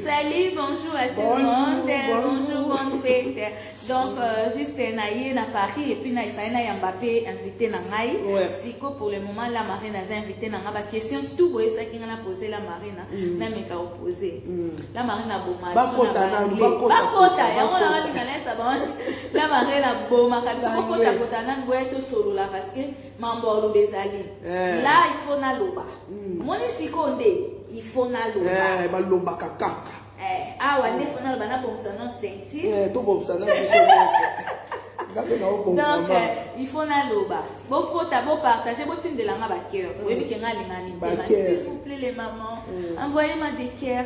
Salut, bonjour à tout le monde. Bonjour, bonne fête. Donc, euh, juste naïe na Paris et puis na Ifaina Yambappé invité na Ngai. Ouais. Siko pour le moment, la marine a invité na Ngai. question tout boye ça qui a posé la marine. Mm. Na meka opposé. Mm. La marine a boma. Bakota na bakota. Bakota. Ya mona wali na lesa ba. La marine a boma. Kabisa bakota kota na boye to solo la parce que mambo oloba ezali eh. la il faut naloba hmm. omoni sikoyo nde il faut naloba eh, balobaka kaka eh, awa nde fo naloba nabongisa no ceinture tobongisa na biso donc il faut naloba bokota bopartage botindela nga bacoeur oyebi ke nga alinga mitema s'il vous plaît les mamans hmm. envoyez ma des coeurs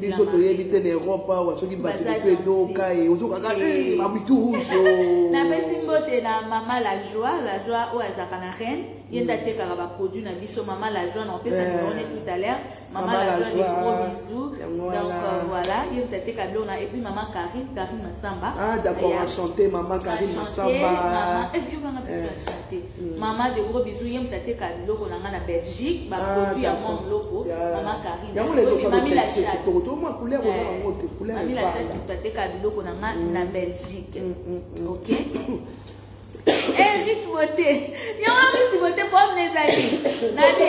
biso toyebi te na europe awa soki bato moto edoka ye ozokaka babitu rouge napesi mbote na mama la joie la joie oyo azalaka na reine ye nde atekaka baproduit na biso mama la joie na opesa numéro ne tout à l'heure mama la joie des gros bisous donc voilà ye nde ateka biloko na epuis mama karine karine masamba ah d'accord enchante mama karine masamba mama de gros bisous ye moto ateka biloko na ngai na belgique baproduit ya mwa moloko mama karine yango na ezosalotokotokotokoto mwa couleur oza eh, yango te couleurtateka biloko na nga mm. na belgique mm, mm, ok eh, ritmote yango ritmote problème ezali nani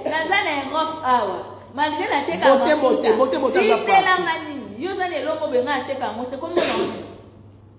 naza na europe awa malgré natekaaitelanga nini yo oza na eloko benga ateka yango te komona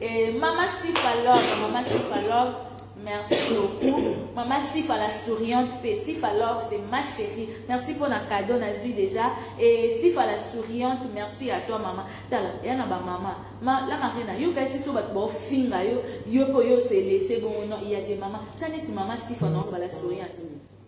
Et Mama Sifa Love, Mama Sifa Love, merci beaucoup. Mama Sifa la souriante, pe Sifa Love, c'est ma chérie. Merci pour la cadeau, Nazui déjà. Et Sifa la souriante, merci à toi, Mama. Tala, y'a na ba Mama. Ma, la Marina, yo kasi so bat bo finga yo, yo po yo se laisser bon non, il y a des Mama. Taneti Mama Sifa non, ba la souriante.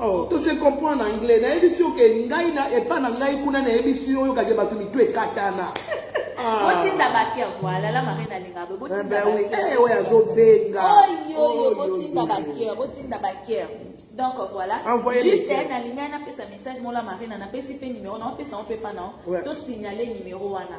Oh, to se comprendre en anglais nayebisi yo ke ngai na epa na ngai kuna nayebisi yo oyokake bato mitu ekatana ah. botinda baker voilà la marine alinga bo botinda eh baker eh, oyo azobenga oyo oyo botinda baker botinda baker donc voilà juste na lingai napesa message mola marina napesi mpe numero na opesa yo mpe mpa na to signale numero wana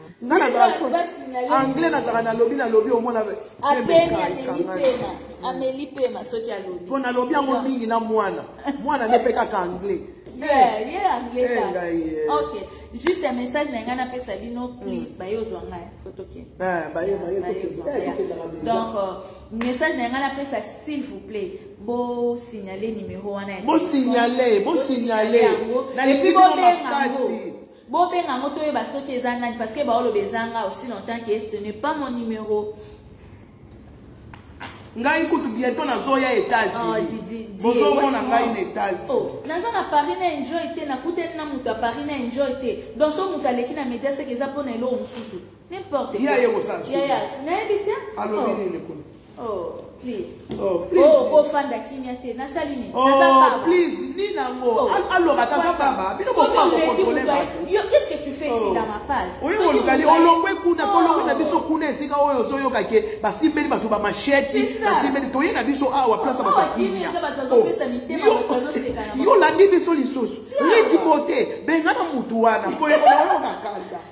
nga nazala so anglais nazala nalobi nalobi omona ameli pema soki alobi mpo nalobi yango mingi na mwana mwana nde mpe kaka anglais ye anglais kaka ok juste un message na ngai napesa bino hmm. please baye ozwa ngai fotokende ah, eh, donc euh, message na ngai napesa s'il vous plaît bosignale numéro wana bosignale bosignale yango epuis bobenga yango bobenga yango toyeba soki eza nani parce que baoloba ezanga aussi longtemps que ce n'est pas mon numéro ngai kutu bientôt nazoya etats-unisbozomona ah, ngai na etats-unis oh, naza na paris na enjoy te nakutani na moto ya paris na enjoy te donc so moto aleki na media seke eza mpo na eloko mosusu n'importe yaya nayebi te Oh, please. Oh, please. Oh, ko fanda kimia te. Na sali ni. Oh, naza baba. please, ni na ngo. Oh, alors ata za baba. Bino ko ko kontrole ba. Yo, qu'est-ce que tu fais ici oh. dans ma page? Oyo ko lukali olongwe kuna, ko longwe na oh. biso kuna esika oyo zo yo kake. Ba simbeli bato ba machete, ba simbeli toye na biso awa place ba oh, kimia. Oh, yo landi biso lisusu. Leti bote, bengana mutu wana. Ko yo ko kanda.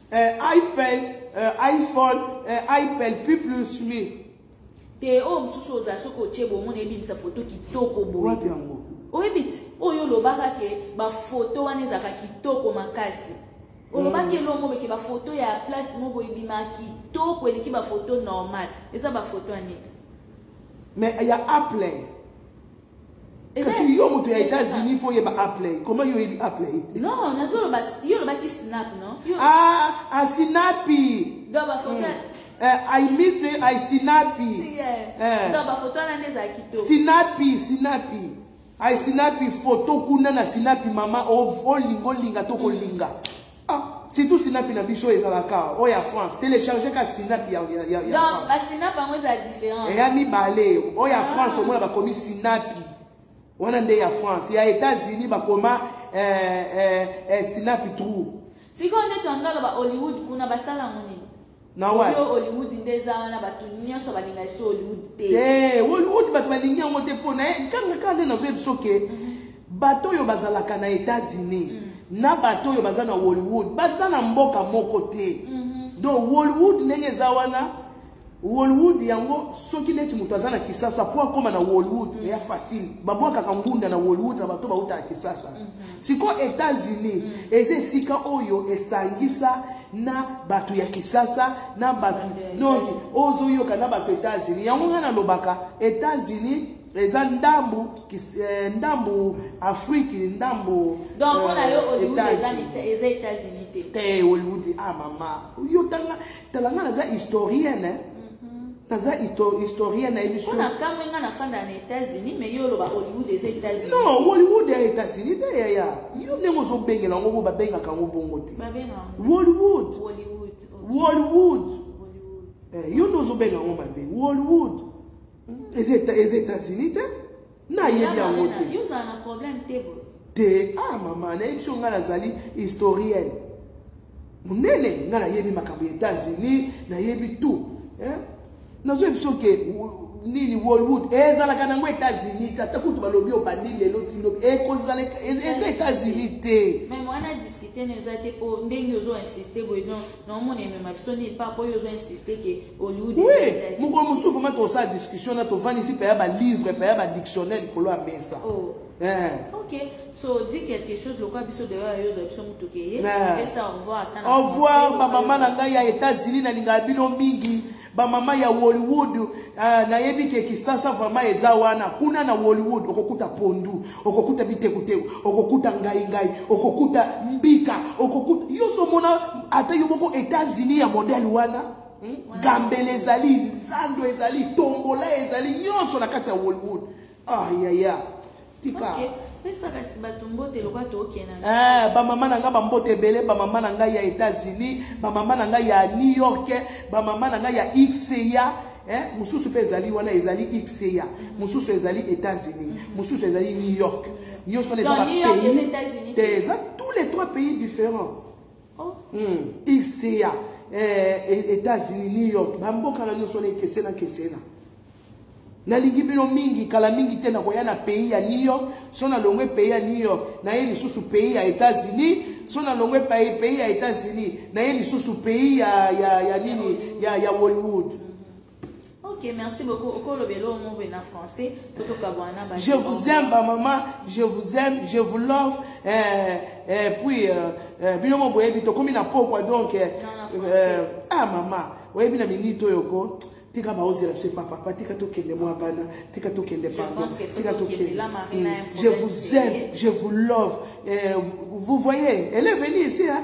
eh, ipel eh, iphone eh, ipel p plus mi te oyo mosusu oza soki otie bomona ebimisa foto kitoko boye oyebi ti oyo olobaka ke bafoto wana ezalaka kitoko makasi olobaki mm. elongo meke bafoto ya place moko ebima kitoko eleki bafoto normal eza bafoto ya nini mais ya apple kasi yo moto ya états-unis fo yeba aplay comment yo oyebi aplay te non nazoloba yo olobaki snap non ah, ah sinapi donc bafoto mm. uh, eh, i miss the i sinapi yeah. uh. Eh. donc bafoto wana nde ezala kitoko sinapi sinapi i sinapi foto kuna na sinapi mama olinga olinga tokolinga mm. Ah, surtout sinapi na biso ezalaka oyo oh, ya france télécharge ka sinapi ya basinapi yango eza différent eya mibale oyo oh, ya ah. france omona bakomi sinapi wana nde ya france ya états-unis bakoma eh, eh, eh, sinapi trou sikoyo ndeti yango aloba hollywood kuna basala yango nini na wa yo hollywood nde eza wana bato nyonso balinga esu hollywood te te hollywood bato balingi yango te mpo na ye kanga kaka nde nazoyebi soki mhm. bato oyo bazalaka na états-unis mhm. na bato oyo baza na hollywood baza na mboka moko te mhm. donc hollywood ndenge eza wana hollywood yango soki neti moto aza na kisasa mpo akóma na hollywood eya facile babwakaka ngunda na hollywood na bato bautaka kisasa siko etats-unis eza esika oyo esangisa na bato ya kisasa na bato noki ozoyoka na bato etats-unis yango ngai nalobaka etats-unis eza ndambu eh, ndambu afriki ndambu donc mpona eh, yo hollywood eza etats-unis te te hollywood ah mama yo tanga tala nga naza historienne hein? naza historien nayebi sona kamwe nga nafanda na états-unis mais yo oloba hollywood eza états-unis non hollywood ya états-unis te yaya yo ndenge ozobengela yango bo babengaka yango bongo te hollywood hollywood eh, yo nde ozobenga yango mabe hollywood eza états-unis te nayebi yango te te ah mama nayebi so ngai nazali historienne monene ngai nayebi makambo ya états-unis nayebi tout nazoyebi biso ke nini wolwood ezalaka nango états-unis te ata kutu balobi oyo bandi lelo tino ekozala eza états-unis te meme wana discute na eza te mpo ndenge ozo insiste boye donc naomona emema biso nini pa mpo oyo ozo insiste ke oui mokolo mosusu vraimen tosala discussion na tovandisi mpe ya balivre mpe ya badictionnaire likolo ya mesa oh. eh. ok so di quelque chose lokola biso deyo ya yozwa biso motuke ye eh. esa revoir au revoir bamama na ngai ya états-unis nalingaka bino mingi bamama ya hollywood uh, nayebi ke kisasa vraimen eza wana kuna na hollywood okokuta pondu okokuta bitekuteku okokuta ngaingai okokuta mbika okokuta yo somona ata yo moko états-unis ya modele wana hmm? gambele ezali zando ezali tombola ezali nyonso na kati ya wolwood ayaya ah, tika okay. Eh, bamama na ngai bambote ebele bamama na ngai ya états-unis bamama na ngai ya new york bamama na ngai ya xeya eh, mosusu mpe ezali wana ezali xeya mosusu ezali états-unis mosusu ezali new york nyonso wana eza bapays te eza tous les trois pays différents oh. hmm. ica eh, e, états-unis new york bamboka na nyonso na ekesena kesena nalingi bino mingi kala mingi te nakoya na pays ya new york so nalongwe pays ya new york naye lisusu pays ya états-unis so nalongwe pays ya états-unis naye lisusu pays ya, ya, ya nini ya, ya hollywood Ok, merci beaucoup. Je vous aime, ma maman. Je vous aime. Je vous love. Et, eh, eh, et puis, euh, euh, bino mo boye bito komi na pokwa donc. Euh, euh, ah maman, oye bina minito yoko. Tika ba ozela c'est papa, papa tika to kende moi bana, tika to kende pardon, tika to kende. Hmm. Je vous aime, je vous love. Et, euh, vous voyez, elle est venue ici hein.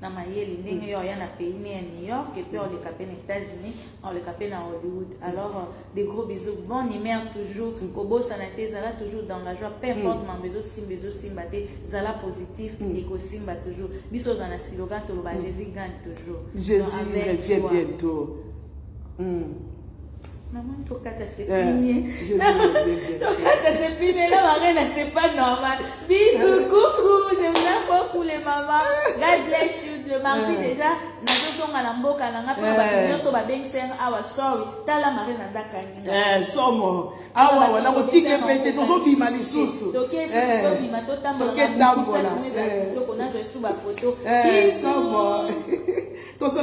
na mayele ndenge yo aya na pays ne ya new york epuis oleka mpe na états-unis oleka mpe na hollywood alors euh, des gros bisous bon humeur toujours mm. kobosana te zala toujours dans la joie peu mm. importe mambo ezosimba ezosimba te zala positif mm. ekosimba toujours biso oza na silogan toloba jésus gagne toujours jésus revient bientôt Maman, ton cas c'est fini. Ton cas c'est fini. La marraine, c'est pas normal. Bisous, coucou. Je vous aime beaucoup, les mamans. God bless you. Le mardi déjà, nazozonga na mboka na nga mpe bato nyonso babengisanga awa sorry tala mare na ndakani somo awa wana kotike mpe te tozobima lisusu tokesitobima totambolakitoko nazwa esu bafoto somo tosala